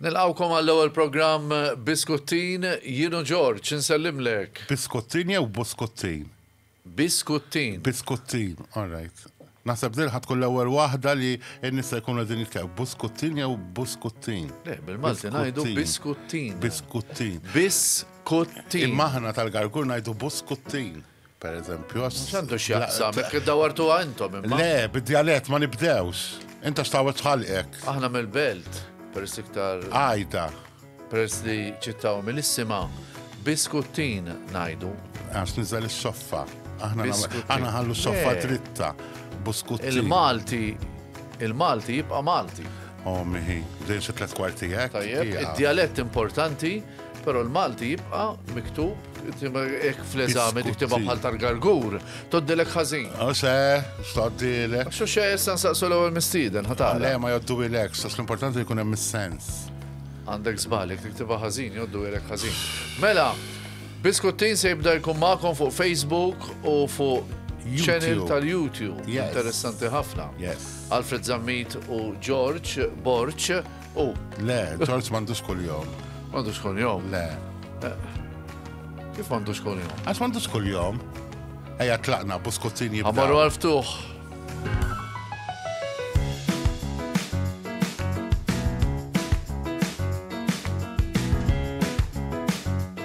Nilqgħukom għall-ewwel programm Biskuttin, jien u George insellimlek. Biskuttin jew Buskuttin? Biskuttin. Biskuttin, all right. Naħseb din ħa tkun l-ewwel waħda li n-nies se jkunu qegħdin jitkellmu. Buskuttin jew Buskuttin? Le, bil-Malti ngħidu Biskuttin. Biskuttin. Biskuttin. Imma aħna tal-Gargur ngħidu Buskuttin. Per eżempju, għax. X'għandu x'jaqsam, hekk iddawwartuha intom imma. Le, bid-djalett ma nibdewx. Int għax tgħawwed ħalqek. Aħna mill-Belt, peress iktar. Għajta. Peress li ċittaw mill-issima, biskuttin ngħidu. Għax niżel is-soffa. Aħna aħna ħallu soffa dritta. Buskuttin. Il-Malti il-Malti jibqa' Malti. O mihi, dejjem xi tliet kwarti hekk. Tajjeb, id-djalett importanti, però l-Malti jibqa' miktub hekk fl-eżami tiktibha bħal tal-gargur, toddilek ħażin. U se, toddilek. Xu xe issa nsaqsu l-ewwel mistieden, ħatar. Le, ma joddu ilek, sas l-importanti jkun hemm is-sens. Għandek żbalek, tiktibha ħażin, joddu ilek ħażin. Mela, Biskuttin se jibda jkun magħkom fuq Facebook u fuq channel tal-YouTube. Interessanti ħafna. Yes. Alfred Zammit u George Borċ u. Le, George m'għandux kuljom. M'għandux kuljom? Le. Eh, kif m'għandux kuljom? Għax m'għandux kuljom. Ejja tlaqna buskuzzin jibda. Għamaru għal-ftuħ.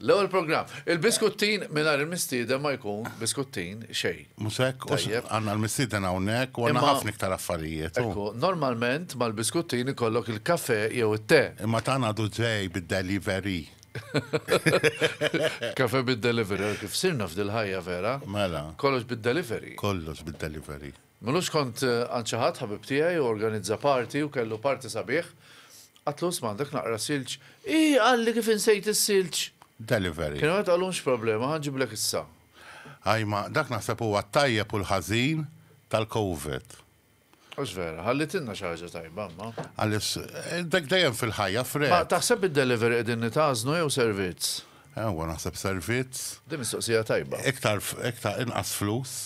L-ewwel programm. Il-biskuttin mingħajr il-mistieden ma jkun biskuttin xejn. Mhux hekk? Għax Tajjeb. għandna l-mistieden hawnhekk u għandna Imma- ħafna iktar affarijiet. u- Ekku, normalment mal-biskuttin ikollok il-kafè jew it-te. Imma dan għadu ġej bid-delivery. Kafè bid-delivery, kif sirna f'dil-ħajja vera. Mela. Kollox bid-delivery. Kollox bid-delivery. Milux kont għand xi ħadd, ħabib tiegħi, u organizza party u kellu party sabiħ. Għadtlu isma' għandek naqra silġ. Ih, qalli kif insejt is-silġ! Delivery. Kien għamel qallu mhux problema, ħa nġiblek issa. Ajma, dak naħseb huwa t-tajjeb u l-ħażin tal-Covid. Mhux vera, ħallitilna xi ħaġa tajba imma. Għaliex dak dejjem fil-ħajja, Fred. Ma taħseb bid-delivery qegħdin nitgħażnu jew servizz? Ewwa, naħseb servizz. Din mistoqsija tajba. Iktar, iktar, inqas flus.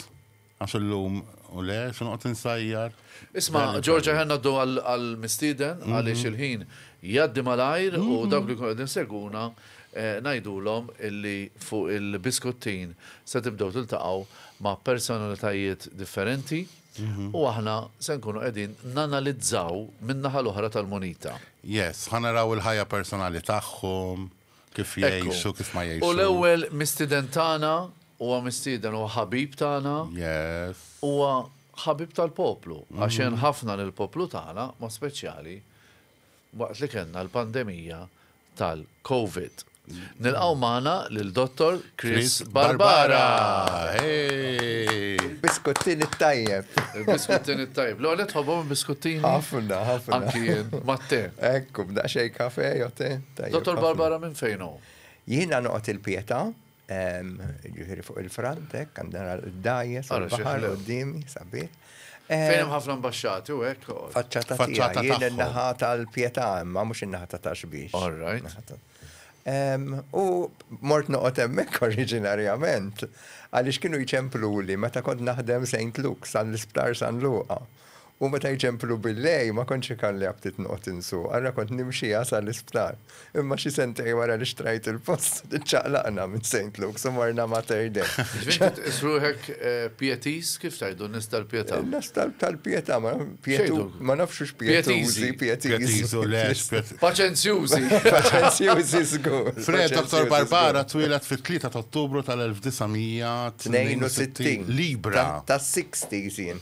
Għax illum u le, se noqgħod insajjar. Isma', George aħjar ngħaddu għall-mistieden għaliex il-ħin jgħaddi malajr u dawk li jkunu qegħdin isegwuna ngħidulhom illi fuq il-Biskuttin se tibdew tiltaqgħu ma' personalitajiet differenti u aħna se nkunu qegħdin nanalizzaw min-naħa l-oħra tal-munita. Yes, ħa naraw il-ħajja personali tagħhom. Kif jgħix u kif ma jgħix. U l-ewwel mistieden tagħna huwa mistieden huwa ħabib tagħna. Yes. Huwa ħabib tal-poplu għax għen ħafna lill-poplu tagħna mod speċjali waqt li kellna l-pandemija tal-Covid. Nilqgħu magħna lil Dottor Chris Barbara. Biskuttin it-tajjeb. Biskuttin it-tajjeb. L-għonet tħobbhom biskuttini? Ħafna, ħafna. Anki jien, mat-te. Ekku, b'daqsxejn kafe jew te. Dottor Barbara minn fejn hu? Jiena noqgħod il-Pietà, ehm, ġifieri fuq il-front, hekk għandna d-dajes, il-baħar qudiemi, sabiet. Ehm, fejn hemm ħafna mbaxxati u hekk. Faċċata tiegħi, jien in-naħa tal-Pietà imma mhux in-naħa ta' taxbix. All right. Ehm, u mort noqgħod hemmhekk oriġinarjament għaliex kienu jċemplu li meta kont naħdem St. Luke's għall-Isptar San Luqa. U meta jċemplu billejl ma kontx ikalli aptit noqgħod insuq, ara kont nimxiha sa l-isptar. Imma xi sentejn wara li xtrajt il-post, iċċaqlaqna minn Saint Luke's u morna Mater Dei. Ġifieri int tqis ruħek Pietiż, kif tgħidu, nies tal-pietà? Nies tal-pietà, ma pietu, ma nafx hux pietużi, pietiżi. Paċenzjużi. Paċenzjużi żgur. Fred, Dottor Barbara twieled fit-3 t'Ottubru tal-1962. Libra. Tas-sixties jien.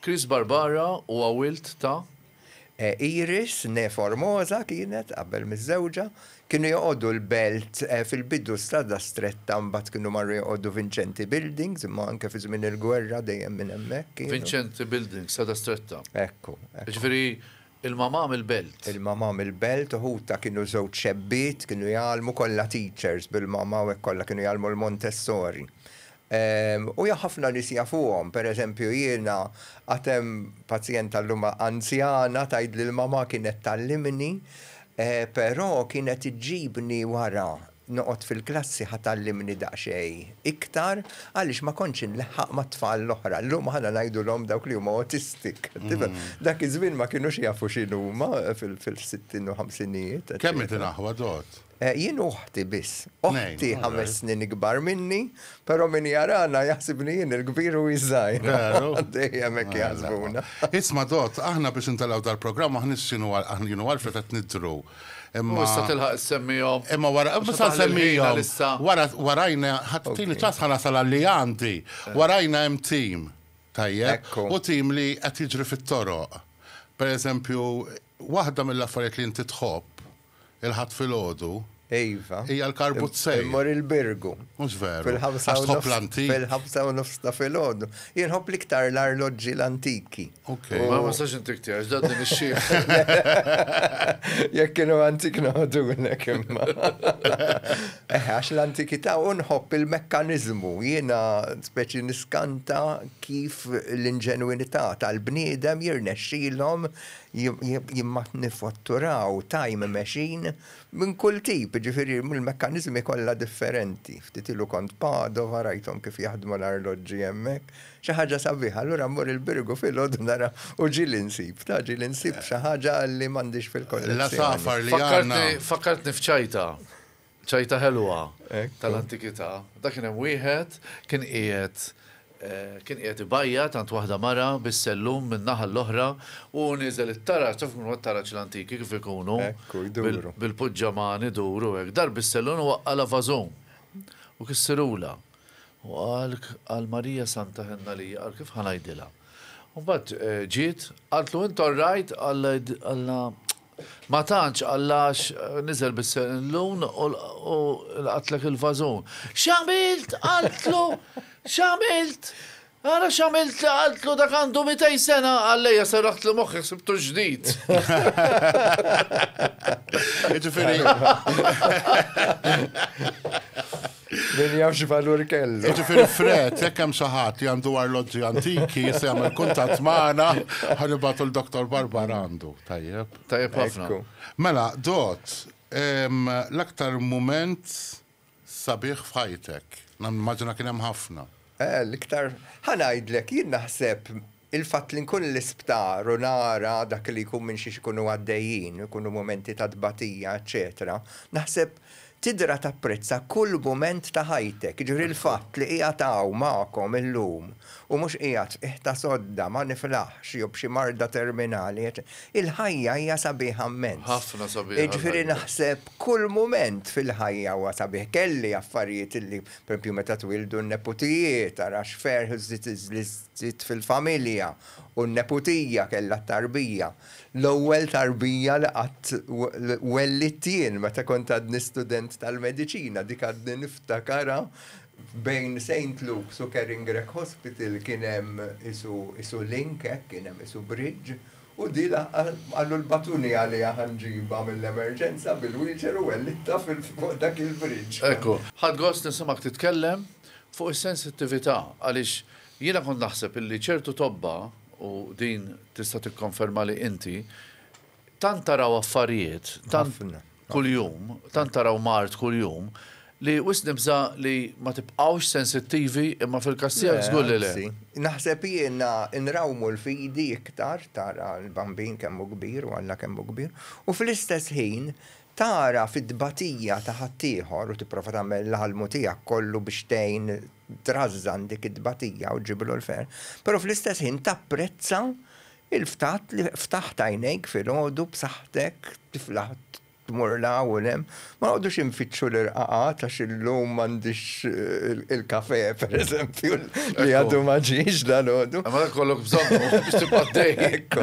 Chris Barbara huwa wild ta'. Iris, née Formosa kienet, qabel miżżewġa. Kienu joqogħdu l-Belt fil-bidu Strada Stretta mbagħad kienu marru joqogħdu Vincenti Buildings imma anke fi żmien il-gwerra dejjem minn hemmhekk kienu. Vincenti Buildings, Strada Stretta. Ekku, ekku. Jiġifieri Il-Mamà mill-Belt. Il-Mamà mill-Belt, ħutha kienu żewġ xebbiet, kienu jgħallmu kollha teachers bil-Mamà u hekk kollha kienu jgħallmu l-Montessori. U jaf ħafna nies jafuhom, per eżempju jiena għad hemm pazjenta llum anzjana tgħidli l-Mamà kienet tgħallimni, però kienet iġġibni wara Noqgħod fil-klassi ħa tgħallimni daqsxejn iktar għaliex ma kontx inleħħaq mat-tfal l-oħra. Llum aħna ngħidulhom dawk li huma autistic. Tifhem? Dak iż-żmien ma kinux jafu x'inhuma fil-sittin u ħamsinijiet. Kemm int inaħwad għodt? Jien u oħti biss. Oħti ħames snin ikbar minni, però min jarana jaħsibni jien il-kbir u hi ż-żgħira. Veru? Dejjem hekk jaħsbuna. Isma' Dott, aħna biex intelgħu dal-programm aħna x'inhu għal jienu Alfred qed nidhru. Imma. U issa tilħaq semmijom. Imma wara, issa semmijom. Wara, warajna, ħattini ċas ħana sal li għandi. Eh. Warajna hemm tim. Tajjeb. U tim li qed jiġri fit-toroq. Per eżempju, waħda mill-affarijiet li inti tħobb il-ħadd fil-ħodu. Iva. Hija l-karbut sej. Mor il-birgu. Mhux veru. Fil-ħamsa u nofs. Fil-ħamsa u nofs ta' fil-ħodu. Jirħob liktar l-arloġġi l-antiki. Ok, ma ma sax intik tiegħek, ġdad din ix-xi. Jekk kienu antik noħdu nek imma. Eh, għax l-antikità u nħobb il-mekkanizmu, jiena speċi niskanta kif l-inġenwinità tal-bniedem jirnexxilhom jimmatnifatturaw time machine minn kull tip, ġifieri mill-mekkanizmi kollha differenti. Ftit ilu kont Padova rajthom kif jaħdmu l-arloġġi hemmhekk. Xi ħaġa sabiħa, allura mmur il-Birgu filgħodu nara u ġieli nsib, ta' ġieli nsib xi ħaġa li m'għandix fil-kollezzjoni. L-għasafar li għandna. Fakkartni f'ċajta, ċajta ħelwa tal-antikità. Dak kien hemm wieħed, kien qiegħed kien qiegħed ibajjat għand waħda mara bis-sellum min-naħa l-oħra u nieżel it-taraġ, taf kif huma t-taraġ l-antiki kif ikunu, bil-puġġaman idur u hekk, dar bis-sellun u waqqa' l-avażun u kissirulha. U qalk għal Marija Santa Henna li jaqar kif ħa ngħidilha. U mbagħad ġiet, qaltlu int all right, Alla ma tantx għallax niżel bis-sellun u lqatlek il-vażun. X'għamilt? qaltlu, x'għamilt? Ara x'għamilt li qaltlu dak għandu mitej sena, Allejja serraħtlu moħħi ħsibtu ġdid. Jiġifieri. Min jaf xi valur kellu. Jiġifieri Fred, jekk hemm xi ħadd li għandu arloġġi antiki jista' jagħmel kuntatt magħna ħa nibgħatu l-Doktor Barbara għandu. Tajjeb. Tajjeb ħafna. Mela, Dott, l-aktar mument Sabiħ f'ħajtek. Nimmaġina kien hemm ħafna. Eh, l-iktar. Ħa ngħidlek, jien naħseb il-fatt li nkun l-isptar u nara dak li jkun minn xiex ikunu għaddejjin, ikunu mumenti ta' tbatija, eċċetera, naħseb tidra tapprezza kull mument ta' ħajtek. Jiġifieri l-fatt li qiegħed hawn magħkom illum u mhux qiegħed qiegħ ta' sodda, ma niflaħx jew b'xi marda terminali, eċċe. Il-ħajja hija sabiħa mmens. Ħafna sabiħa l-ħajja. Jiġifieri naħseb kull mument fil-ħajja huwa sabiħ. Kelli affarijiet li, pereżempju, meta twieldu n-neputijiet, ara x'ferħ li żdied fil-familja u n-neputija kellha t-tarbija. L-ewwel tarbija li qatt wellidt jien meta kont għadni student tal-mediċina, dik għadni niftakarha Bejn Saint Luke's u Caringrech Hospital kien hemm qisu link hekk, kien hemm qisu bridge, u di qallu l-batuni għaliha ħa nġibha mill-emerġenza bil-wheelchair u wellittha fuq dak il-bridge. Ekku. Ħadt gost nisimgħek titkellem fuq is-sensittività għaliex jiena kont naħseb illi ċertu tobba, u din tista' tikkonfermali inti, Tant taraw affarijiet, tant kuljum, tant taraw mard kuljum, li wisq nibża' li ma tibqgħux sensittivi, imma fil-każ tiegħek żgur li le. Anzi, naħseb jiena nrawmu l-fidi iktar, tara l-bambin kemm hu kbir u Alla kemm hu kbir, u fl-istess ħin tara fit-tbatija ta' ħaddieħor u tipprova tagħmel l-almu tiegħek kollu biex tgħin trażżan dik it-tbatija u ġġibilu l-ferħ, però fl-istess ħin tapprezza Il-ftat li ftaħt għajnejk filgħodu b'saħħtek, tifla tmur 'l hawn u 'l hemm, ma noqgħodux infittxu l-irqaqat għax illum m'għandix il-kafè, pereżempju, li għadu ma ġiex dalgħodu. Imma dak ikollok bżonnu biex tibqa' dejjaq.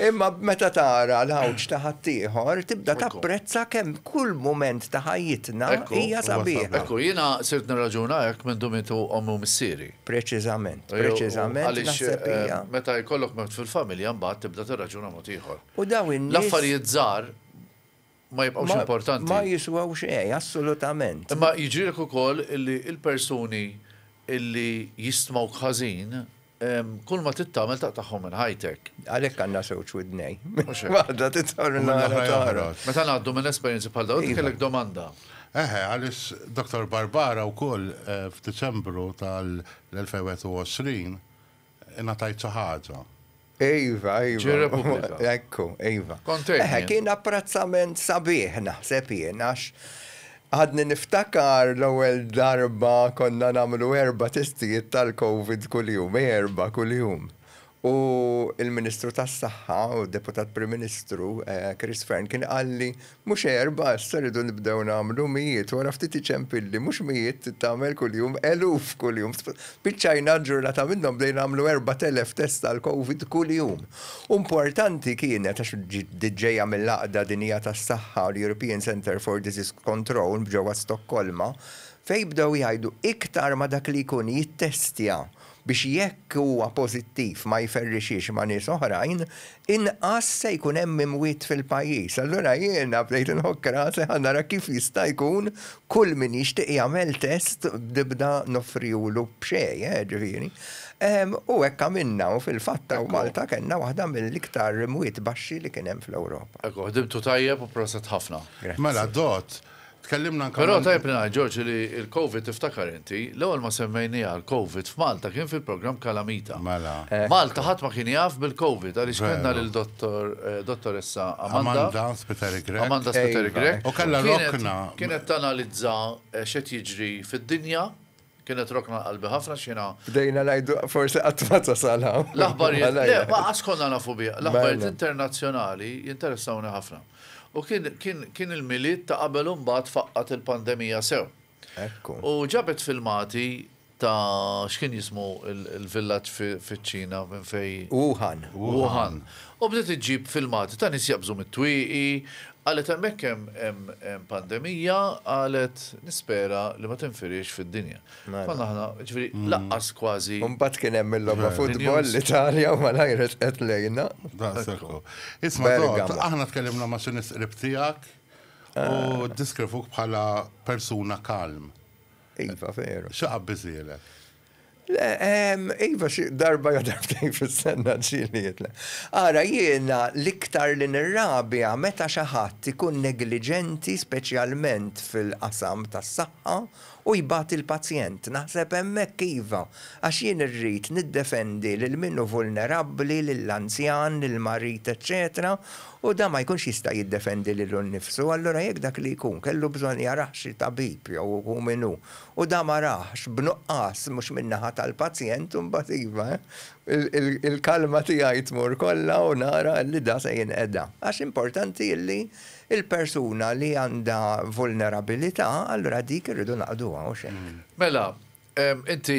Imma meta tara l-għawġ ta' ħaddieħor, tibda tapprezza kemm kull mument ta' ħajjitna hija sabiħa. Ekku, jiena sirt nirraġuna hekk minn dum intu ommi u missieri. Preċiżament, preċiżament. Għaliex meta jkollok mewt fil-familja mbagħad tibda tirraġuna mod ieħor. U daw in L-affarijiet żgħar ma jibqgħux importanti. Ma jiswaw xejn, assolutament. Imma jiġrilek ukoll illi l-persuni illi jistmgħuk ħażin kull ma trid tagħmel taqtagħhom minn ħajtek. Għalhekk għandna żewġ widnej. Waħda titħorna l-oħra. Meta ngħaddu minn esperjenzi bħal dawn, kellek domanda. Eħe, għaliex Dottor Barbara wkoll f'Diċembru tal-2021 ingħatajt xi ħaġa. Iva, iva. Ekku, iva. Eħe, kien apprezzament sabiħ naħseb jien għax għadni niftakar l-ewwel darba konna nagħmlu erba' testijiet tal-Covid kuljum, erba' kuljum. U l-Ministru tas-Saħħa u Deputat Prim Ministru, Chris Fearne, kien qalli, Mhux erbgħa, issa rridu nibdew nagħmlu mijiet, wara ftit iċempilli, Mhux mijiet trid tagħmel kuljum, eluf kuljum. Spiċċajna ġurnata minnhom bdejna nagħmlu erbat elef test għall-Covid kuljum. U importanti kienet, għax di ġejja mill-Għaqda Dinjija tas-Saħħa u l-European Centre for Disease Control ġewwa Stokkolma, fejn bdew jgħidu iktar ma dak li jkun jittestja, biex jekk huwa pożittiv ma jferrixhiex ma' nies oħrajn, inqas se jkun hemm imwiet fil-pajjiż. Allura jiena bdejt inħokk rasi ħa nara kif jista' jkun kull min jixtieq jagħmel test b'dibda noffrihulu b'xejn, eh, ġifieri. U hekk għamilna u fil-fatt hawn Malta kellna waħda mill-iktar imwiet baxxi li kien hemm fl-Ewropa. Ekku, ħdimtu tajjeb u proset ħafna. Mela, Dott. Tkellimna anke. Però tajjeb li ngħid, George, li l-Covid tiftakar inti, l-ewwel ma semmejniha l-Covid f'Malta kien fil-programm Calamita. Mela. Malta ħadd ma kien jaf bil-Covid għaliex kellna lil Dottor Dottoressa Amanda. Amanda Spiteri Grech. Amanda Spiteri Grech. U kellha rokna. Kienet tanalizza x'qed jiġri fid-dinja. Kienet rokna qalbi ħafna x'jiena. Bdejna ngħidu forsi qatt ma tasal hawn. L-aħbarijiet, le, ma qatt konna nafu biha. L-aħbarijiet internazzjonali jinteressawni ħafna. U kien, kien, kien il-Milied ta' qabel u mbagħad faqqgħet il-pandemija sew. Ekku. U ġabet filmati ta' x'kien jismu l-villaġġ fiċ-Ċina minn fejn. Wuhan. Wuhan. U bdiet iġġib filmati ta' nies jaqbżu mit-twieqi, Qalet hemmhekk hemm hemm hemm pandemija, qalet nispera li ma tinfiriex fid-dinja. Mela. Konna aħna, ġifieri lanqas kważi. U mbagħad kien hemm il-logħba futbol l-Italja u malajr resqet lejna. Daqshekk hu. Isma' Todd, aħna tkellimna ma' xi nies qrib tiegħek u ddiskrivuk bħala persuna calm. Iva, veru. Xi qabbiżhielek? Le, iva xi darba jew darbtejn fis-sena ġieli jitlaq. Ara, jiena l-iktar li nirrabja meta xi ħadd ikun negliġenti speċjalment fil-qasam tas-saħħa u jbati l-pazjent. Naħseb hemmhekk iva, għax jien irrid niddefendi lil min hu vulnerabbli, lill-anzjan, lill-marid eċċetera u dan ma jkunx jista' jiddefendi lilu nnifsu, allura jekk dak li jkun kellu bżonn jarah xi tabib jew hu min hu, U dan ma rahx, b'nuqqas, mhux min-naħa tal-pazjent, imbagħad iva, il-kalma tiegħi tmur kollha u nara li dan se jinqeda. Għax importanti li l-persuna li għandha vulnerabilità, allura dik irridu naqduha, hux hekk? Mela, inti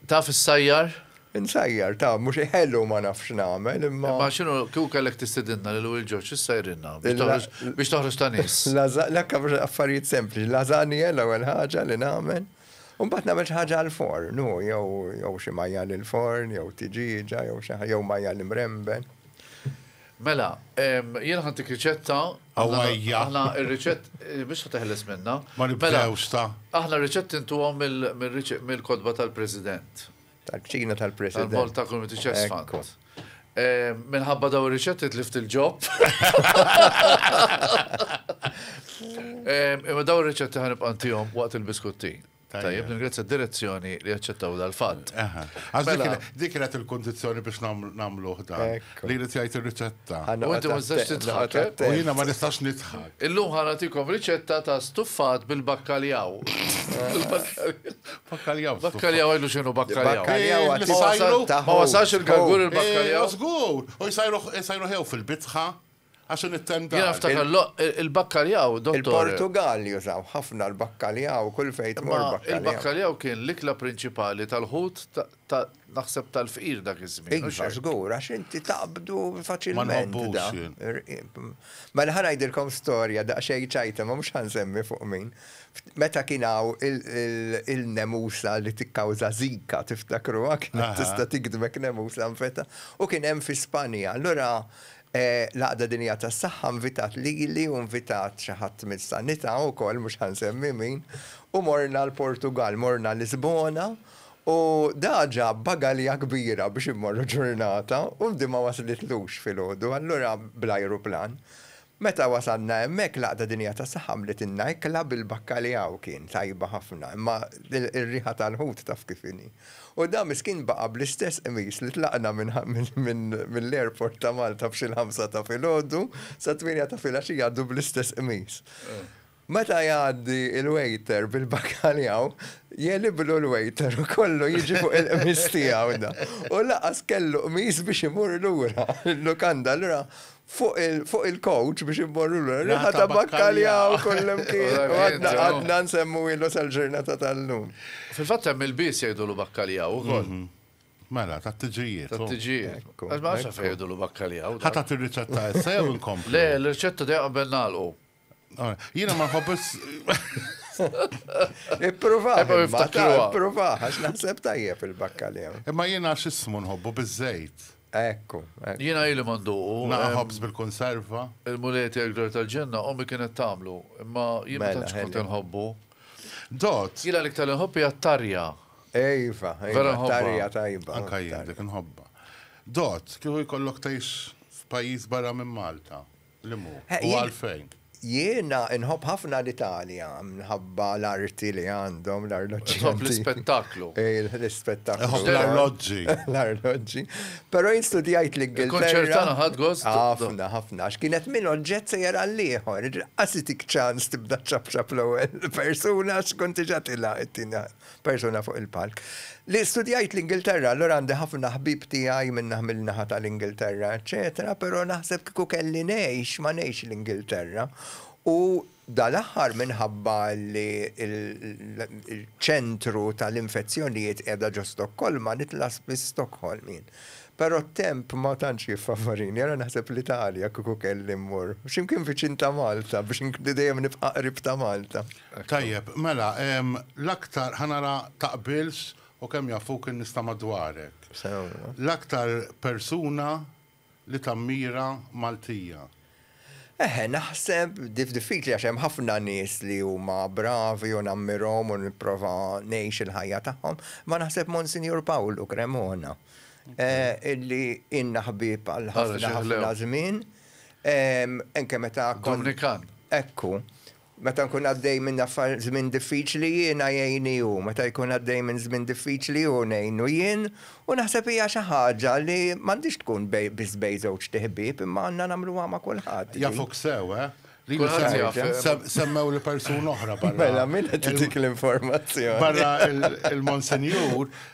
taf issajjar? Insajjar, ta, mhux ħelu ma nafx x'nagħmel, imma. Imma x'inhu, kieku kellek tistidinna lil Will George, x'issajrilna? Biex toħroġ, biex toħroġ ta' nies. Lażaq, le kif affarijiet sempliċi, lażanja l-ewwel ħaġa li nagħmel, u mbagħad nagħmel xi ħaġa għall-forn, hu, jew, jew xi majjal il-forn, jew tiġieġa, jew xi ħa, jew majjal imremben. Mela, jien ħantik riċetta. Awajja. Aħna r-riċett, biex ħa teħles minna. Ma nibdewx ta. Aħna r-riċett intuhom mill-kotba tal-President. Tal-kċina tal-President. Tal-bol ta' kull tiċess fant. Minħabba daw riċetti tlift il-ġob. Imma daw riċetti ħanibqa' ntihom waqt il-biskutti. Tajjeb, ningrazzja direzzjoni li jaċċettaw dal-fatt. Mela. Dik kienet il-kondizjoni biex namlu ħdan. Li li tgħid ir-riċetta. Ħanna U inti ma tistax għatta- titħaq, għatta- eh? għatta- U jiena ma nistax nidħak. Illum ħana tikom riċetta ta' stuffat bil-bakkaljaw. Bil-bakkaljaw. Bakkaljaw. Bakkaljaw għajdu xinu bakkaljaw. Bakkaljaw Eh, għatta- li sajru- għatta- Ma wasax il-galgur Eh, il-bakkaljaw. Żgur. U jsajru jsajru ħew fil-bitħa għax nittenda. Jena ftakar lo- il- il-bakkaljaw, dottor. Il-Portugal jużaw ħafna l-bakkaljaw, kull fejn tmur Ma bakkaljaw. il-bakkaljaw kien l-ikla prinċipali tal-ħut ta- Naħseb tal-fqir dak iż-żmien. Iva, żgur, għax inti taqbdu faċilment. Mela ħa ngħidilkom storja daqsxejn ċajta ma mhux ħansemmi fuq min. Meta kien hawn il-nemusa li tikkawża zika tiftakruha kienet tista' tikdbek nemusa nfeta u kien hemm fi Spanja. Allura l-Għaqda Dinjija tas-Saħħa nvitat lili u nvitat xi ħadd mis-Sanità wkoll mhux ħansemmi min u morna l-Portugall, morna Lisbona U daa ġab bagalja kbira biex immorru ġurnata u di ma waslitlux filgħodu allura bl-ajruplan. Meta wasalna hemmhekk l-Għaqda Dinjija tas-Saħħa għamlitilna ikla bil-bakkaljaw kien tajba ħafna imma r-riħa tal-ħut taf kif inhi. U daa miskin baqa' bl-istess qmis li tlaqna mill-airport ta' Malta f'xi l-ħamsa ta' filgħodu sa tmienja ta' filgħaxija għadu bl-istess qmis. Meta jgħaddi l-waiter bil-bakaljaw, jegħliblu l-waiter u kollu jiġi fuq il-qmis tiegħu da. U laqas kellu qmis biex imur lura. Il-lukanda allura fuq il-kowċ biex immorru lura. Riħa ta' bakkaljaw kullimkien. U għadna għadna nsemmuhielu sal-ġurnata tal-lum. Fil-fatt hemm il-bies jgħidulu bakkaljaw ukoll. Mela, tat-tiġijiet. Tat-tiġijiet. Għax ma nafx għalfejn jgħidulu bakkaljaw. Ħa tagħti r-riċetta issa jew inkomplu? Le, l-riċetta dejjem qabel nagħlqu. Ah, jiena ma ħobbis. Ipprova, ipprova, għax naħseb tajjeb il-bakkalja. Imma jiena x'ismu nħobbu biżejt. Ekku. Jiena ili mandu. Naħobs bil-konserva. Il-mulet jgħagdor tal-ġenna, ommi kienet tamlu, imma jiena mela, kont nħobbu. Dot. Jiena l-iktar nħobbi għattarja. Ejfa, vera tarja tajba. Anka jien dik nħobba. Dot, kieku jkollok tgħix f'pajjiż barra minn Malta. Li mhu? Eh, U jien- għalfejn? Jiena nħobb ħafna l-Italja minħabba l-arti li għandhom l-arloġġi. Tħobb antiċi. l-ispettaklu. Eh, L-ispettaklu. Iħobb ukoll. l-arloġġi. L-arloġġi. Però jien studjajt l-Ingilterra. Il-konċert tagħna ħadt gost? Ħafna, ħafna, għax kienet minn oġġett sejjer għall-ieħor. Qas itik ċans tibda ċapċap l-ewwel persuna għax kont diġà tilha t-tieni. persuna fuq il-palk. Li studjajt l-Ingilterra, allura għandi ħafna ħbieb tiegħi min-naħa mill-naħa tal-Ingilterra, eċċetera, però naħseb kieku kelli ngħix, ma ngħixx l-Ingilterra. U dal-aħħar minħabba li l-ċentru tal-infezzjonijiet qiegħda ġo Stokkolma, nitla' spiss Stockholm jien. Però t-temp ma tantx jiffavorini, allura naħseb l-Italja kieku kelli mmur. X'imkien viċin ta' Malta biex inkun dejjem nibqa' qrib ta' Malta. Tajjeb, mela, l-aktar, ħa nara taqbilx u kemm jafuk in-nies ta' madwarek. L-aktar persuna li tammira Maltija? Eħe, naħseb, diffiċli għax hemm ħafna nies li huma bravi u nammirhom u nipprova ngħix il-ħajja tagħhom, imma naħseb Monsinjur Pawlu Cremona illi ilna ħbieb għal ħafna ħafna żmien, anke meta kont. Dominikan. Ekku. Meta nkun għaddej minn affar żmien diffiċli jiena jgħinni hu, meta jkun għaddej minn żmien diffiċli hu ngħinu jien u naħseb hija xi ħaġa li m'għandhiex tkun bej biss bej żewġt iħbieb imma għandna nagħmluha ma' kulħadd din. Jafuk sew, eh? Li Kulħadd jaf, se- eh? se- semmewli persuna oħra barra. Mela, min qed itik l-informazzjoni? barra il-Monsinjur,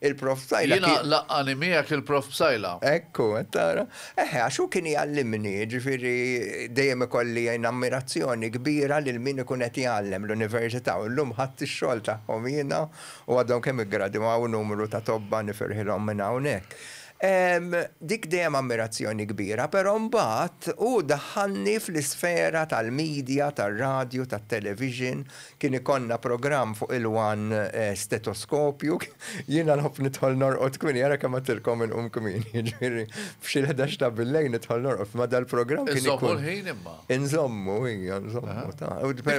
Il-Prof Psaila kien. Jiena laqqgħani miegħek il-Prof Psaila. Ekku, qed tara. Eħe, għax hu kien jgħallimni, jiġifieri dejjem ikolli ammirazzjoni kbira lil min ikun qed jgħallem, l-Università, u llum ħadt ix-xogħol tagħhom jiena u għadhom kemm iggradwaw numru ta' tobba nifirħilhom minn hawnhekk. Dik dejjem ammirazzjoni kbira, però mbagħad hu daħħalni fl-isfera tal-media, tar-radju, tat-television, Kien ikollna programm fuq il-one stetoskopju, jiena nħobb nidħol norqod kmieni, ara kemm għedtilkom inqum kmieni, jiġifieri f'xi l-ħdax ta' bil-lejl nidħol norqod, imma dal-programm kien ikun. Inżommu l-ħin imma. Inżommu, ija, nżommu, ta.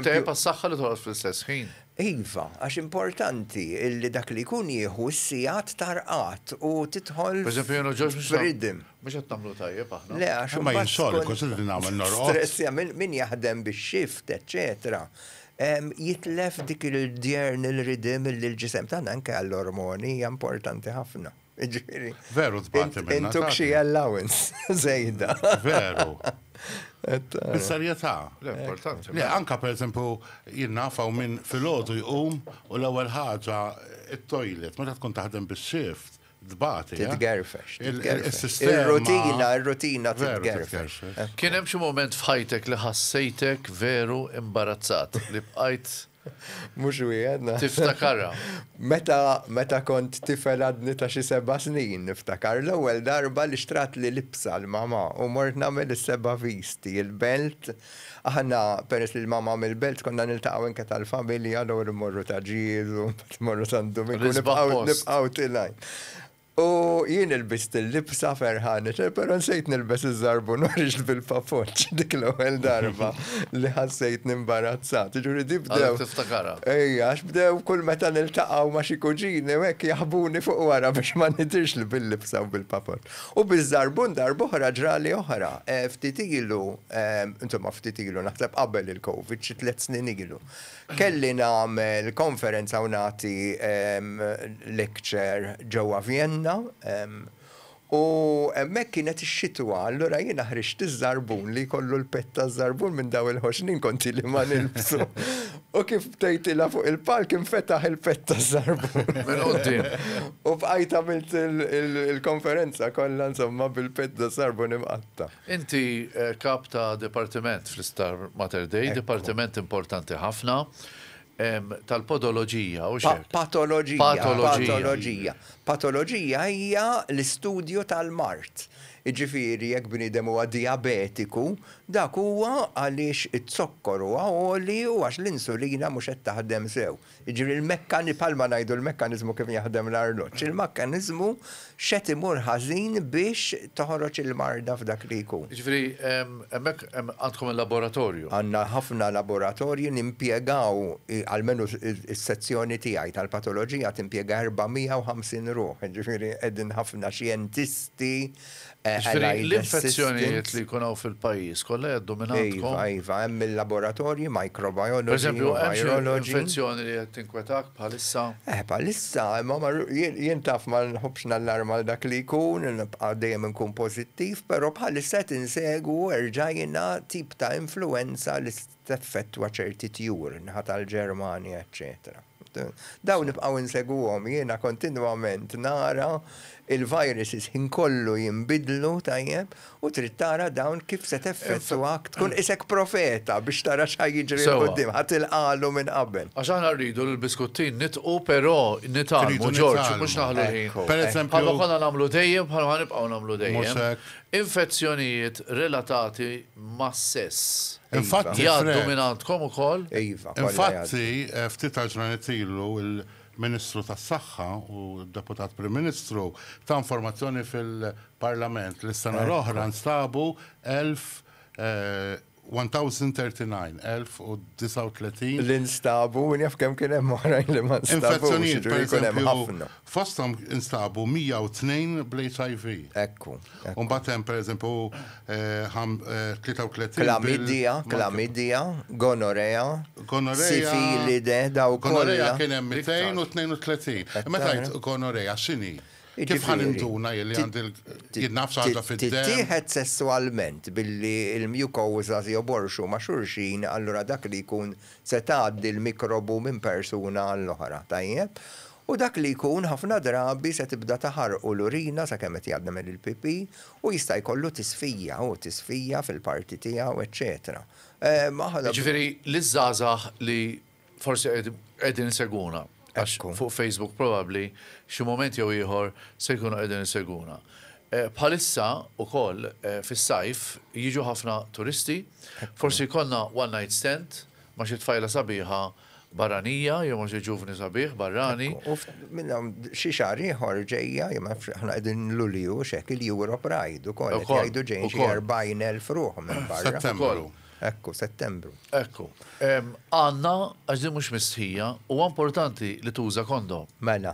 Tajjeb għas-saħħa li torqod fl-istess ħin. Iva, għax importanti li dak li jkun jieħu s-sigħat ta' rqad u tidħol. Pereżempju jien u Ġorġ mhux. F'riddim. Mhux qed nagħmlu tajjeb aħna. Le għax. Imma jien solli kont irrid nagħmel norqod. Stress, min jaħdem bix-xift, eċċetera. Jitlef dik il-diurnal rhythm illi l-ġisem tagħna anke għall-ormoni hija importanti ħafna. Jiġifieri. Veru tbati minnha. Intuk xi allowance żejda. Veru. Bis-serjetà. Le importanti. Le anke pereżempju jien naf hawn min filgħodu jqum u l-ewwel ħaġa t-toilet meta tkun taħdem bis-shift Tbati. Eh? Titgerfex. Il-rutina, il-rutina titgerfex. Eh? Kien hemm xi moment f'ħajtek li ħassejtek veru imbarazzat li bqajt Mux wieħed. Tiftakarra. Meta, meta kont tifel għadni ta' xi seba' snin, niftakar l-ewwel darba li xtrat li libsa l-mama u mort nagħmel is-seba' visti, il-belt Aħna peress li l-mamam il-belt konna niltaqgħu enke tal-familja allura mmorru ta' ġież u mbagħad mmorru San Duminku nibqgħu tilgħin. U jien ilbist il-libsa ferħanet, però nsejt nilbes iż-żarbun u ħriġt bil-papoċċ dik l-ewwel darba li ħassejtni imbarazzat. Jiġifieri di bdew. Għalhekk tiftakarha. Ejja, għax bdew kull meta niltaqgħu ma' xi kuġini u hekk jaħbuni fuq wara biex ma nidhirx bil-libsa u bil-papoċċ. U biż-żarbun darb'oħra ġrali oħra. Ftit ilu, insomma ftit ilu, naħseb qabel il-Covid, xi tliet snin ilu, kelli nagħmel konferenza u nagħti lecture ġewwa Vjenna u hemmhekk kienet ix-xitwa, allura jiena ħriġt iż-żarbun li jkollu l-pett taż-żarbun minn dawn il-ħoxnin kont ili ma nilbsu. U kif btejtilha fuq il-palk infetaħ il-pett ta' żarbun. Minn qudiem. U bqajt għamilt il-konferenza kollha insomma bil-pett ta' żarbun imqatta'. Inti kap ta' dipartiment fl-Isptar Mater Dei, dipartiment importanti ħafna tal-podoloġija, hux hekk? Patoloġija. Patoloġija. Patoloġija. Patoloġija hija l-istudju tal-mard. Jiġifieri jekk bniedem huwa dijabetiku, Dak huwa għaliex iz-zokkor huwa għoli u għax l-insulina mhux qed taħdem sew. Jiġifieri l-mekkani, bħalma ngħidu l-mekkaniżmu kif jaħdem l-arloġġ. Il-makkaniżmu x'qed imur ħażin biex toħroġ il-marda f'dak li jkun. Jiġifieri hemmhekk hemm għandkom il-laboratorju. Għandna ħafna laboratorji nimpjegaw, almenu s-sezzjoni tiegħi tal-patoloġija timpjega 450 ruħ, jiġifieri qegħdin ħafna xjentisti, Jiġifieri l-infezzjonijiet li jkun hawn fil-pajjiż kollha jgħaddu minn għandkom? Iva, iva, hemm il-laboratorji, microbiology, virology. Pereżempju, hemm xi infezzjoni li qed tinkwetak bħalissa? Eh, bħalissa, imma jien taf ma nħobbx nallarma għal dak li jkun, nibqa' dejjem inkun pożittiv, però bħalissa qed insegwu erġajna tip ta' influwenza li teffettwa ċerti tjur naħa tal-Ġermanja eċċetera. Dawn nibqgħu insegwuhom, jiena kontinwament nara l-viruses ħin kollu jinbidlu tajjeb u trid tara dawn kif se teffettwak tkun qisek profeta biex tara x'ħa jiġri 'l quddiem, ħa tilqagħlu minn qabel. Għax aħna rridu l-biskuttin nitqu però nitgħallmu Ġorġ u mhux naħlu l-ħin. Bħalma konna nagħmlu dejjem bħalma ħa nibqgħu nagħmlu dejjem. Infezzjonijiet relatati mas-sess. Infatti, Jgħaddu minn għandkom ukoll? Iva, kollha jgħaddu. Infatti, ftit għall-ġranet ilu l-Ministru tas-Saħħa u d-Deputat Prim Ministru ta informazzjoni fil-Parlament li s-sena l-oħra nstabu 1,039, 1039. Li nstabu, u naf kemm kien hemm oħrajn li ma nstabux, jiġifieri jkun hemm ħafna. Fosthom instabu 102 bl-HIV. Hekk hu. U mbagħad hemm pereżempju 33 bil- Klamidja, klamidja, gonorea, Gonorea- sifilide, daw kollha. Gonorea kien hemm 232. Hekk Meta tara. ngħid gonorea x'inhi? Kif Jiġifieri, ħaninduna jien li għandi l- ti- jien naf x'għandha ti- fid-demm? Tittieħed sesswalment billi l-mucosas joborxu ma' xulxin, allura dak li jkun se tgħaddi l-mikrobu minn persuna għall-oħra, tajjeb? U dak li jkun ħafna drabi se tibda taħarqu l-urina sakemm qed jgħaddmel il-pipì u jista' jkollu tisfija u tisfija fil-parti tiegħu eċċetera. Aħna. Jiġifieri liż-żgħażagħ li forsi qegħdin isegwuna għax fuq Facebook probabbli xi mument jew ieħor se jkunu qegħdin isegwuna. Bħalissa wkoll fis-sajf jiġu ħafna turisti, forsi jkollna one night stand ma' xi tfajla sabiħa barranija, jew ma xi ġuvni sabiħ barrani. U minn hawn xi xahar ieħor ġejja, ma nafx aħna qegħdin Lulju x'hekk il-Europe Ride ukoll qed jgħidu ġejjin xi 40,000 ruħ minn barra. Settembru. Ekku, Settembru. Ekku. Għandna, għax din mhux mistħija, huwa importanti li tuża kondom. Mela.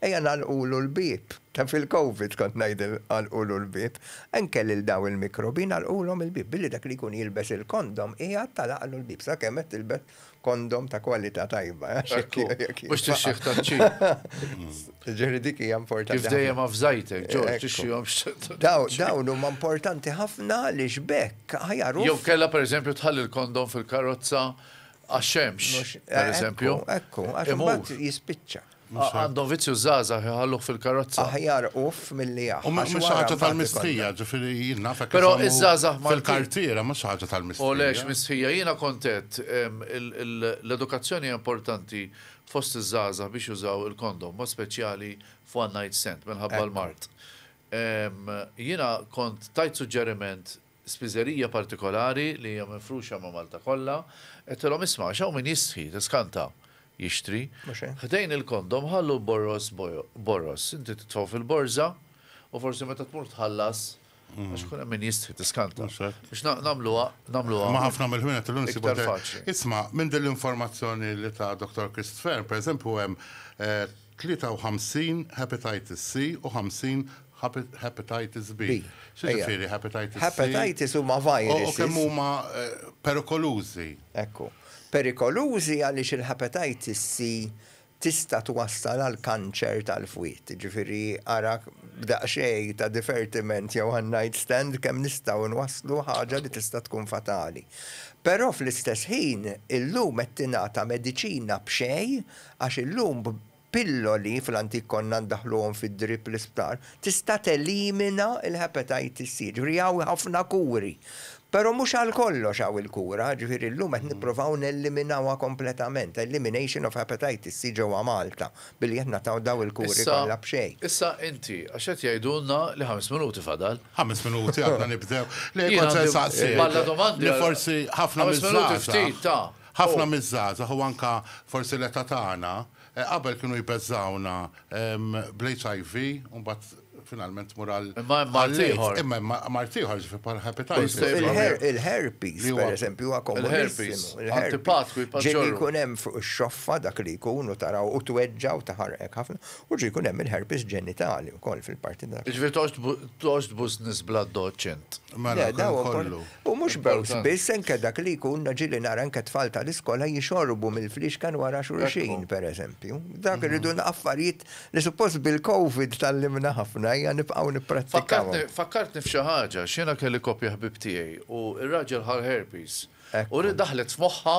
Ejja nagħlqulu l-bieb. Ta' fil-Covid kont ngħid għalqulu l-bieb. Anke lil dawn il-mikrobi nagħlqulhom il-bieb billi dak li jkun jilbes il-kondom qiegħed tagħlaqlu l-bieb sakemm qed tilbes kondom ta' kwalità tajba. Ekku, mhux tixxih taċ-ċin. Ġifieri dik hija importanti ħafna. Kif dejjem afżajtek, George, tixxihom x-xatt. Dawn huma importanti ħafna għaliex b'hekk aħjar hu. Jew kellha pereżempju tħalli l-kondom fil-karozza għax-xemx, pereżempju. Ekku, ekku, għax imbagħad jispiċċa. Għandu vizzju żgħażagħ iħalluh fil-karozza. Aħjar uff milli jaħ. U mhux ħaġa tal-mistħija, ġifieri jien naf hekk. Però iż-żgħażagħ Maltin. Fil-kartiera mhux ħaġa tal-mistħija. Olex mistħija, jiena kont għedt l-edukazzjoni hija importanti fost iż-żgħażagħ biex jużaw il-kondom, b'mod speċjali f'one night stand minħabba l-mard. Jiena kont tajt suġġeriment spiżerija partikolari li hija mifruxa ma' Malta kollha, għedtilhom isma' għax hawn min jistħi, tiskanta, jixtri. Ħdejn il-kondom ħallu borroż borroż. Inti titfgħu fil-borża u forsi meta tmur tħallas għax ikun hemm min jistħi, tiskanta. Biex nagħmluha, nagħmluha. Ma' ħafna mill-ħwienet illum insibu iktar faċli. Isma', minn din l-informazzjoni li ta Dottor Christ Fearne, pereżempju hemm 53 Hepatitis C u 50 Hepatitis B. B. Xi Ejja. ġifieri Hepatitis C? Hepatitis huma U u kemm viruses. huma eh, perikolużi? Ekku. Perikolużi għaliex il-Hepatitis C tista' twassal għal kanċer tal-fwied. Jiġifieri ara b'daqsxejn ta' divertiment jew one night stand kemm nistgħu nwasslu ħaġa li tista' tkun fatali. Però fl-istess ħin illum qed tingħata mediċina b'xejn Għax illum b'pilloli, fl-antik konna ndaħħluhom fid-drip fl-isptar, tista' telimina l-Hepatitis C. Ġifieri hawn ħafna kuri. Però mhux għal kollox hawn il-kura, ġifieri llum qed nipprovaw neliminawha kompletament, elimination of Hepatitis C ġewwa Malta, billi qed nagħtaw dawn il-kuri kollha b'xejn. Issa inti, għax qed jgħidulna li ħames minuti fadal. Ħames minuti għadna nibdew. Le kont se nsaqsik. Balla domandi. Li forsi ħafna miż-żgħażagħ. Ħames minuti ftit, ta. Ħafna miż-żgħażagħ u anke forsi l-età tagħna qabel kienu jbeżżgħuna bl-HIV u mbagħad finalment tmur għal l-AIDS. Imma hemm mard ieħor, ġifieri bħal hepatitis. Il-herpes, pereżempju, huwa komunissimu. Il-herpes. Ġieli jkun hemm fuq ix-xoffa dak li jkun u taraw u tweġġa' u taħarqek ħafna. U ġieli jkun hemm il-herpes ġenitali wkoll fil-parti ta'. Ġifieri toqgħodx tbus nies bl-addoċċ int. Mela, dan kollu. U mhux b'għoż biss, anke dak li jkun naġili nara anke t-tfal tal-iskola jixorbu mill-fliexken wara xulxin, pereżempju. Dak irridu affarijiet li suppost bil-Covid tgħallimna ħafna, ejja nibqgħu nipprattikawhom. Fakkartni f'xi ħaġa, għax jiena kelli koppja ħbieb tiegħi u r-raġel ħa l-herpes u daħlet f'moħħha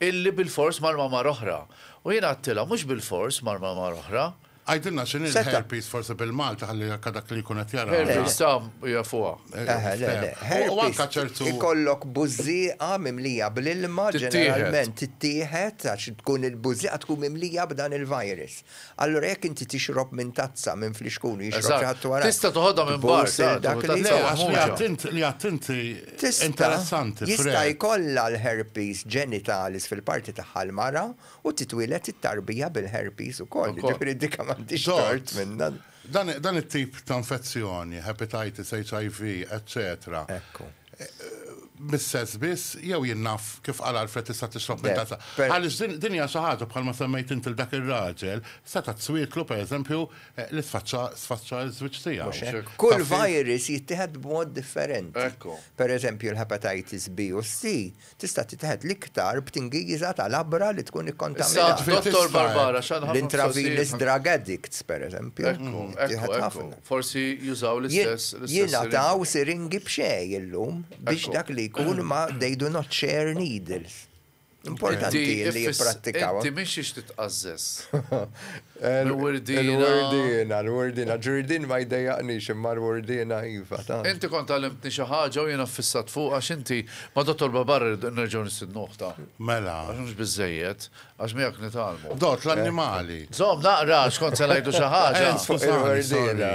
illi bilfors mar ma' mara oħra. U jiena għedtilha, mhux bilfors mar ma' mara oħra. Għidilna x'inhi l-herpes forsi bil-Malti ħalli jekk dak li jkun qed jara. Herpes ta' jafuha. U anke ċertu. Ikollok bużżieqa mimlija bl-ilma ġeneralment tittieħed għax tkun il-bużżieqa tkun mimlija b'dan il-virus. Allura jekk inti tixrob minn tazza minn flixkun u jixrob xi ħadd wara. Tista' toħodha minn barra. Dak li għedt inti interessanti. Jista' jkollha l-herpes genitalis fil-parti tagħha l-mara U titwieled it-tarbija bil-herpes ukoll, jiġifieri dik m'għandhiex tort minnha. Dan it-tip ta' infezzjoni, hepatitis, HIV, eċċetera, mis-sess biss jew jien naf kif qal Alfred tista' tixrob minn tazza? Għaliex din hija xi ħaġa bħalma semmejt int lil dak ir-raġel, seta' tswietlu pereżempju li sfaċċa ż-żwieġ tiegħu. Kull virus jittieħed b'mod differenti. Pereżempju l-hepatitis B u C Tista' tittieħed l-iktar b'tingiża ta' labra li tkun ikkontaminata. Issa, Dottor Barbara, x'għandna ħafna L-intravenous drug addicts, pereżempju. Ekku, ekku, ekku. Forsi jużaw l-istess siringi. Jingħataw siringi b'xejn illum biex dak li jkun ma they do not share needles. Importanti li jipprattikaw. Inti m'intix titqażżeż. Il-Wurdiena. Il-Wurdiena, il-Wurdiena. Ġurdien ma jdejjaqnix imma l-Wurdiena iva, tant. Inti kont għallimtni xi ħaġa u jiena ffissat fuqha għax inti ma' Dottor Babar irrid nerġgħu nistidnu oħtha. Mela. Għax mhux biżżejjed, għax miegħek nitgħallmu. Dott l-annimali. Żomm naqra għax kont se ngħidu xi ħaġa. Eh, skużani, sorry.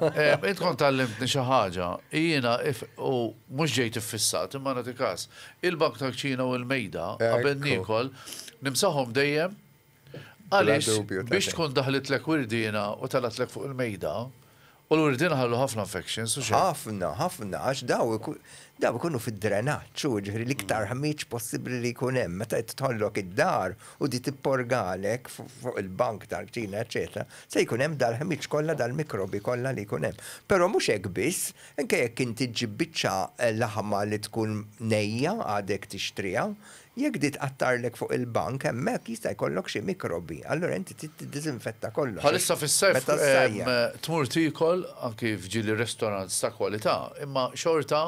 Eh, int kont għallimtni xi ħaġa. Jiena if u mhux ġejt iffissat imma nagħti każ. Il-bank tal-kċina u l-mejda qabel niekol nimsahom dejjem Għaliex biex tkun daħlitlek wirdiena u telgħetlek fuq il-mejda, u l-wirdiena ħallu ħafna infections u xejn. Ħafna, ħafna, għax daw ikunu fid-drenaġġ, u ġifieri l-iktar ħmieġ possibbli li jkun hemm. Meta tħollok id-dar u di tipporgalek fuq il-bank tal-kċina eċċetera, se jkun hemm dal-ħmieġ kollha, dal-mikrobi kollha li jkun hemm. Però mhux hekk biss, anke jekk inti ġġib biċċa laħma li tkun nejja għadek tixtriha, Jekk di tqattarlek fuq il-bank, hemmhekk jista' jkollok xi mikrobi, allura inti trid tiddiżinfetta kollox għax Bħalissa fis-sajf meta ssajjar. tmur tiekol anki f'ġieli restaurants ta' kwalità, imma xorta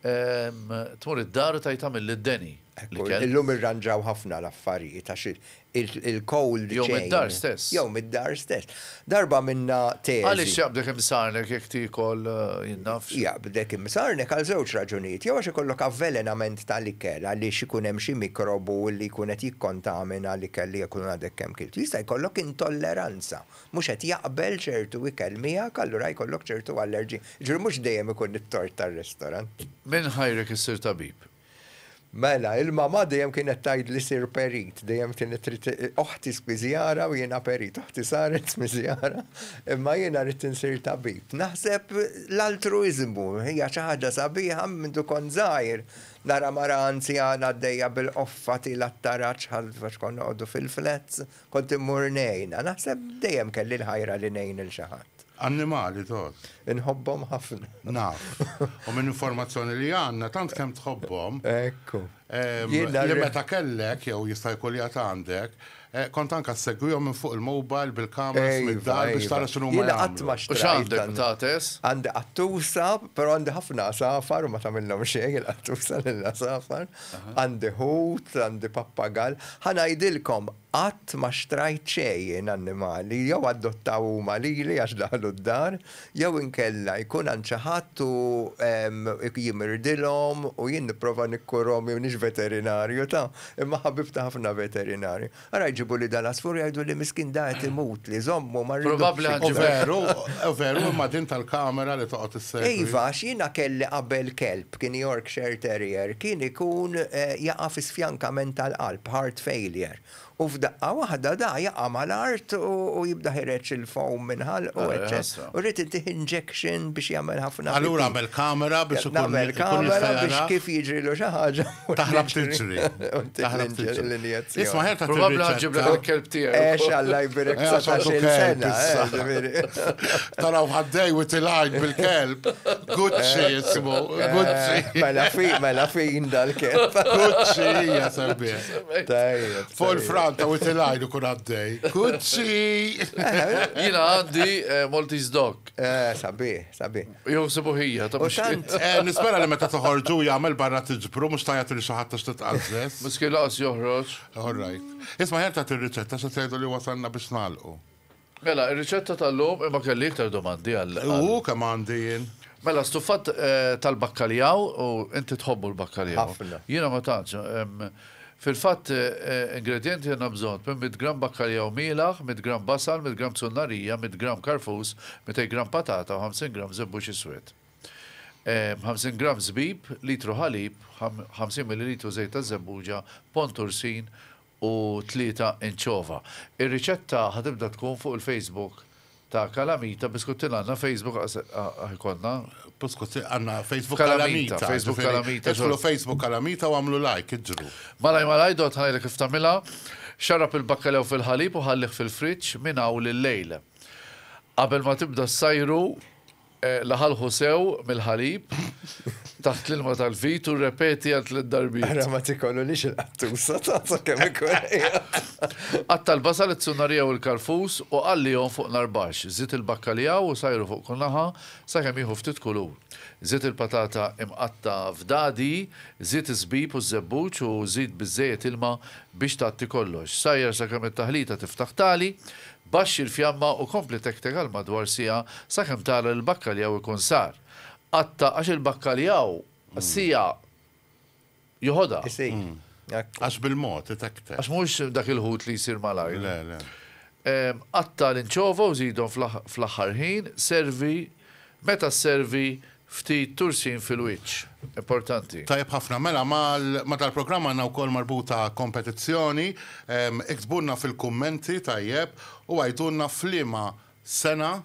tmur id-dar u tgħid għamilli d-deni Hekk hu, l-ikel. illum irranġaw ħafna l-affarijiet għax il-cold chain. Jew mid-dar stess. Jew mid-dar stess. Darba minna teżi. Għaliex jaqbdek imsarnek jekk tiekol jinnaf? Jaqbdek imsarnek għal żewġ raġunijiet. Jew għax ikollok avvelenament tal-ikel għaliex ikun hemm xi mikrobu li jkun qed jikkontamina l-ikel li jkun għadek kemm kilt. Jista' jkollok intolleranza. Mhux qed jaqbel ċertu ikel miegħek allura jkollok ċertu allerġija. Jiġifieri mhux dejjem ikun it-tort tar-restorant. Minn ħajrek issir tabib. Mela, il-mamà dejjem kienet tgħidli sir perit, dejjem tieni trid oħti spiżjara u jiena perit, oħti saret spiżjara, imma jiena ridt insir tabib. Naħseb l-altruiżmu hija xi ħaġa sabiħa mindu kont żgħir, nara mara anzjana għaddejja bil-qoffa tiela' t-taraġ ħalf għax konna noqogħdu fil-flats, kont immur ngħinha. Naħseb dejjem kelli l-ħajra li ngħin lil xi ħadd. Annimali tot. Inħobbhom ħafna. Naf. U minn informazzjoni li għandna tant kemm tħobbhom. Ekku. Li meta kellek jew jista' jkun li għandek, eh, kont anka segwihom minn fuq il-mobile bil-kameras mid-dar biex tara x'inhu ma jagħmlu. U x'għandek ptates? Għandi qattusa, però għandi ħafna għasafar u ma tagħmilhom xejn il-qattusa lill-għasafar. Għandi ħut, għandi pappagall. Ħa ngħidilkom, Qatt ma xtrajt xejn annimali, jew adottaw huma lili għax daħlu d-dar, jew inkella jkun għand xi ħadd u jien mirdilhom u jien nipprova nikkurhom jew nix veterinarju ta, imma ħabibt ħafna veterinarji. Ara jġibuli dal-għasfur jgħiduli miskin da qed imut li jżommu ma rridux iktar. Probabbli hu veru, hu veru imma din tal-kamera li toqgħod issegwi. Iva għax jiena kelli qabel kelb. B'kien Yorkshire Terrier kien ikun jaqa' fi sfjankament tal-qalb, heart failure, u f'daqqa waħda da jaqa' mal-art u jibda ħireġ il-foam minn ħalqu eċċet u rrid ittih injection biex jagħmel ħafna pipì. Allura għamel kamera biex ikun jista' jara. Għamel kamera biex kif jiġrilu xi ħaġa. Taħrab tiġri. Taħrab tiġri l-injezzjoni. Isma' ħerta tiġri. Probabbli ħa ġġib lek il-kelb tiegħek. Għex Alla jbierek 19-il sena. Taraw ħaddej u tilgħajn bil-kelb. Gucci jismu, eh, Gucci. Eh, mela fi, mela fi indal kif. Gucci hija semmi. Tajjeb. Full front u tilajn u kun għaddej. Gucci. Jina għaddi eh, Maltese Dog. Sabi, sabi. Jow sibu hija, ta' tant. Nispera li meta toħorġu jagħmel barra tiġbru mhux tajja li xi ħadd għax titqażżes. Miskil laqas joħroġ. All right. Isma' ħerta tir-riċetta se tgħidu li wasalna biex nagħlqu. Mela, ir-riċetta tal-lum, imma kelli iktar domandi għal. Hu, kemm għandi jien! Mela, stuffat tal-bakkaljaw, u inti tħobbu l-bakkaljaw. Ħafna. Jiena ma tantx. Fil-fatt, ingredjenti għandna bżonn, tmien mitt gramm bakkaljaw mielaħ, mitt gramm basal, mitt gramm zunnarija, mitt gramm karfus, mitej gramm patata u ħamsin gramm żebbux iswed. Ħamsin gramm żbib, litru ħalib, ħamsin millilitru żejt taż-żebbuġa, pond ursin u tlieta inċova. Ir-riċetta ħa tibda tkun fuq il-Facebook ta' Calamita Biscuttin għandna Facebook ħa jkollna. Biscuttin għandna Facebook Calamita. Facebook Calamita. Idħlu Facebook Calamita u għamlu like, iġru. Malaj malaj dot ħanajlek kif tagħmilha. Xarrab il-bakkalew fil-ħalib u ħallih fil-friġġ minn hawn lil-lejl. Qabel ma tibda ssajru Laħalħu sew mill-ħalib taħt l-ilma tal-vit u rrepeti għal tliet darbiet. Ara ma tikolulix il-qattusa tazza kemm ikun. Qatta' l-basal, it-sunnarija u l-karfus u qallihom fuq nar baxx. Żid il-bakkalija u sajru fuq kull naħa sakemm jieħu ftit kulur. Żid il-patata imqatta' f'dadi, żid iż-żbib u ż-żebbuġ u żid biżżejjed ilma biex tgħatti kollox. Sajjar sakemm it-taħlita tiftaħ tagħli. Baxxi l-fjamma u kompli tektek għal madwar siegħa sakemm tara li l-bakkaljaw ikun sar. Qatta' għax il-bakkaljaw siegħa joħodha. Isir. Għax bil-mod itektek. Għax mhux dak il-ħut li jsir malajr. Le, le. Qatta' l-inċova u żidhom fl-aħħar ħin, servi, meta sservi Ftit tursin fil-wiċċ. Importanti. Tajjeb ħafna. Mela ma dal-programm għandna wkoll marbuta kompetizzjoni. Iktbulna fil-kummenti, tajjeb, u għidulna f'liema sena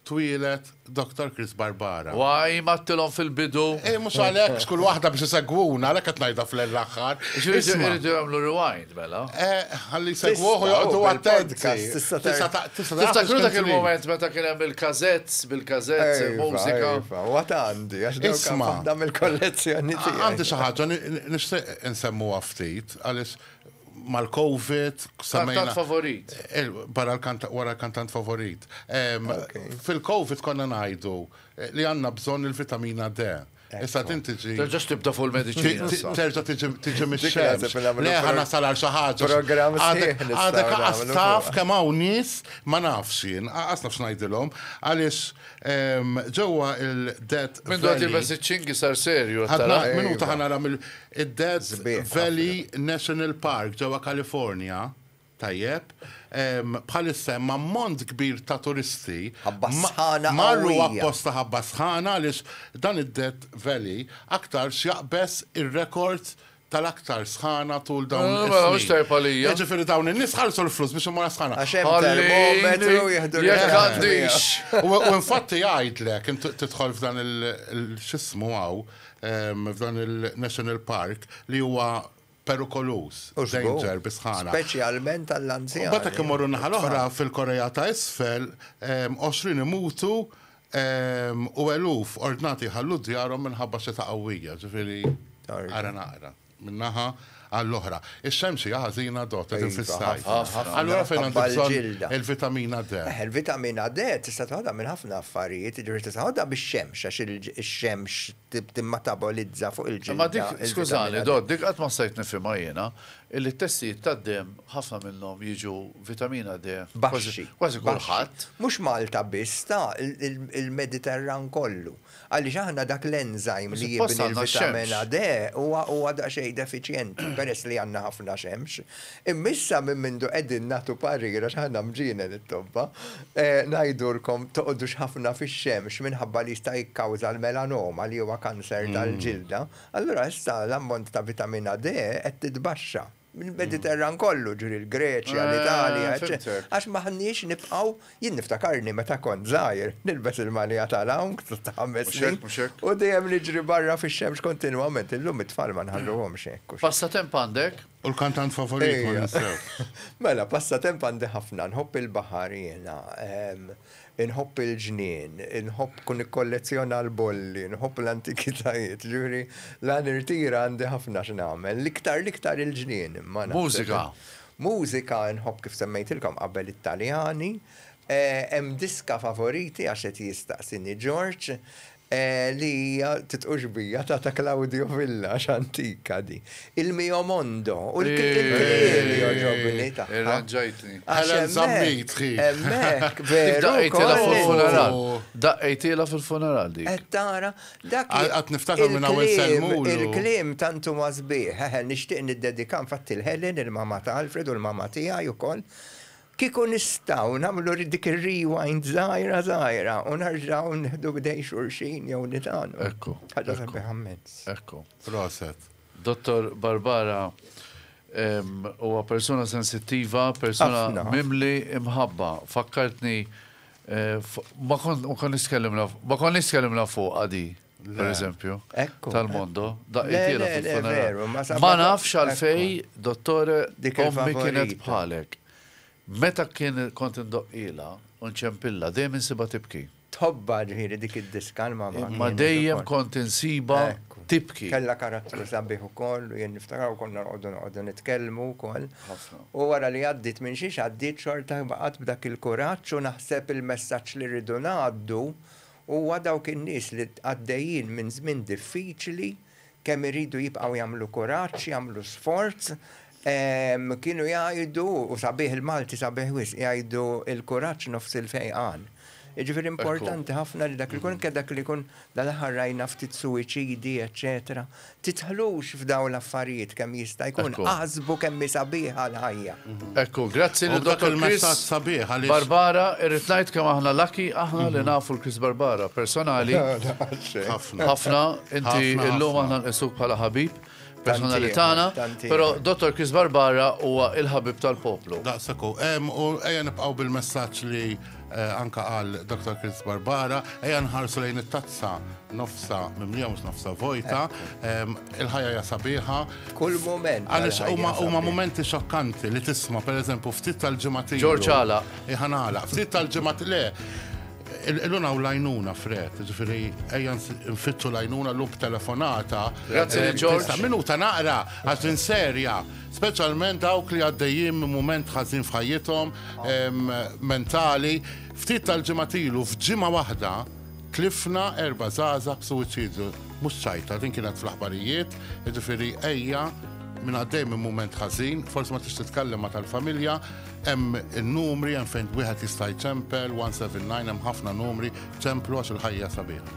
twieled Doctor Chris Barbara. Why m'għadtilhom fil-bidu? Mhux għalhekk, x'kull waħda biex isegwuna, għalhekk qed ngħidha fl-aħħar. Ġifieri jridu jagħmlu rewind. Mela. Eh, ħalli jsegwuh u joqgħodu attent. Tista' tiftakru dak il-moment meta kien hemm il-kazetts bil-kazetts il-mużika. Waqt għandi għax isma' dam il-kollezzjoni tiegħi. Għandi xi ħaġa nixtieq insemmu ftit għaliex mal-COVID semmejna. Kantant favorit. Eh, barra wara l-kantant favorit. Fil-COVID konna ngħidu eh, li għandna bżonn il-vitamina D. Issa din tiġi. Terġax tibda fuq il-mediċina. Terġa' tiġi mix-xemx. Le ħana sal għal xi ħaġa. Programm Għadek aqas taf kemm hawn nies ma nafx jien, aqas nafx ngħidilhom għaliex ehm, ġewwa il-Dead Valley. Minn dwar il-Bess iċ-Ċingi sar serju. Minuta ħana ram il-Dead Valley National Park ġewwa Kalifornja. Tajjeb. Bħalissa hemm ammont kbir ta' turisti. Ħabba sħana qawwija. Marru apposta ħabba sħana għaliex dan id-Death Valley aktarx jaqbeż ir-rekord tal-aktar sħana tul dawn is-snin. Mela, mela, mhux tajjeb għalija. Jiġifieri dawn in-nies ħallsu l-flus biex imorha sħana. Għax hemm termometru jieħdu l-ħin. Jekk għandix. U infatti jgħidlek, inti tidħol f'dan il-x'ismu hawn, f'dan il-National Park li huwa perikoluż, danger bis-sħana. Speċjalment għall-anzjani. Mbagħad jekk immorru n-naħa l-oħra, fil-Korea ta' Isfel, 20 imutu u eluf ordnati jħallu djarhom minħabba xita qawwija. Ġifieri, ara naqra minn naħa għall-oħra. Ix-xemx hija ħażina dott, qegħdin fis-sajf. Allura fejn għandi bżonn il-vitamina D? Eħe, il-vitamina D tista' toħodha minn ħafna affarijiet, jiġifieri tista' toħodha mix-xemx għax ix-xemx timmatabolizza fuq il-ġilda. Imma dik, skużani Dott, dik qatt ma stajt nifhimha jiena, illi t-testijiet tad-demm ħafna minnhom jiġu vitamina D baxxi, kważi kulħadd. Mhux Malta biss, ta, il-Mediterran kollu. Għaliex aħna dak l-enzyme li jibni l-vitamina D huwa daqsxejn defiċjenti peress li għandna ħafna xemx. Imma issa minn mindu qegħdin nagħtu parir għax aħna mġienen it-tobba, ngħidulkom toqgħodux ħafna fix-xemx minħabba li jista' jikkawża l-melanoma li huwa kanser tal-ġilda, allura issa l-ammont ta' vitamina D qed titbaxxa. Il-Mediterran kollu, ġifieri l-Greċja, l-Italja, eċċetera. Għax m'aħniex nibqgħu, jien niftakarni meta kont żgħir, nilbes il-malja tal-hawn ta' ħames snin u dejjem niġri barra fix-xemx kontinwament, illum it-tfal ma nħalluhomx hekk. Passatemp għandek? U l-kantant favorit ma ninsewx. Mela, passatemp għandi ħafna, nħobb il-baħar jiena, nħobb il-ġnien, nħobb kun ikkollezzjona l-bolli, nħobb l-antikitajiet, ġuri, la nirtira għandi ħafna x'nagħmel, l-iktar l-iktar il-ġnien. Mużika. Mużika nħobb kif semmejtilkom qabel it-Taljani, hemm diska favoriti għax qed jistaqsini George, li hija titqu-xbija ta' ta' Claudio Villa, għax antika di. Il-Mio Mondo u l-Kikil-Kikil li jogħġobni tagħha. Irranġajtni. Għax hemmhekk, hemmhekk, veru wkoll. Daqqejtilha fil-funeral dik. Qed tara? Dak il-kliem. Għad niftakar minn hawn insellmulu. Il-kliem tant huwa sbieħ. Eħe, nixtieq niddedika infatti l-Helen, il-mamma ta' Alfred u l-mamma tiegħi wkoll. Kieku nistgħu nagħmlu dik ir-rewind żgħira żgħira u nerġgħu nieħdu b'idejn xulxin jew nitgħallmu. Ekku. Ħaġa sabiħa mmens. Ekku. Proset. Dottor Barbara, huwa persuna sensittiva, persuna mimli imħabba. Fakkartni ma kont nitkellem ma kont nitkellem fuq għadi. per eżempju, tal-mondo, daqqietila fil-funeral. Ma nafx għalfej, dottore, ommi kienet bħalek. Meta kien kont indoqqila, unċempilla, dejjem insiba tibki. Tħobba ġviri dik id-diska l-mamma. Ma dejjem kont insiba tibki. Kella karattru sabiħ u koll, u jen niftaraw konna għoddu għoddu nitkellmu u koll. U għara li għaddit minn xiex għaddit xorta baqat b'dak il-kuraċ u naħseb il-messagġ li rridu naħaddu Huwa dawk in-nies li għaddejjin minn żmien diffiċli, kemm iridu jibqgħu jagħmlu kuraġġ, jagħmlu sforz. Kienu jgħidu, u sabiħ il-Malti sabiħ wisq, jgħidu l-kuraġġ nofs il-fejqan. Jiġifieri importanti ħafna li dak li jkun, anke dak li jkun dal-aħħar rajna ftit suwiċidi, eċċetera, Tidħlux f'dawn l-affarijiet kemm jista' jkun, aħsbu kemm hi sabiħa l-ħajja. Ekku, grazzi lil Dottor Chris Barbara, irrid ngħid kemm aħna lucky aħna li nafu l-Chris Barbara personali. Ħafna, inti illum aħna nqisuk bħala ħabib personali tagħna, però Dottor Chris Barbara huwa l-ħabib tal-poplu. Daqshekk hu, u ejja nibqgħu bil-messaġġ li Eh, anka għal Dr. Chris Barbara, eja nħarsu lejn it-tazza nofsa mimlija mux nofsa vojta, il-ħajja ja sabiħa. Kull moment. Għalix huma momenti xokkanti li tisma, per eżempju, ftit tal-ġemat. Ġorġ għala. Iħan għala, ftit tal-ġemat le. Il-luna u lajnuna fred, ġifiri, ejjan nfittu lajnuna l-lub telefonata. Grazie, eh, Ġorġ. Minuta naqra, għax serja. speċjalment dawk li għaddejjin minn mument ħażin f'ħajjithom mentali, ftit tal-ġimgħat ilu f'ġimgħa waħda tlifna erba' żgħażagħ b'suwiċidju. Mhux ċajta, din kienet fl-aħbarijiet, jiġifieri ejja minn għaddej minn mument ħażin, forsi ma tix titkellem ma tal-familja, hemm in-numri hemm fejn wieħed jista' jċempel 179 hemm ħafna numri, ċemplu għax il-ħajja sabiħa.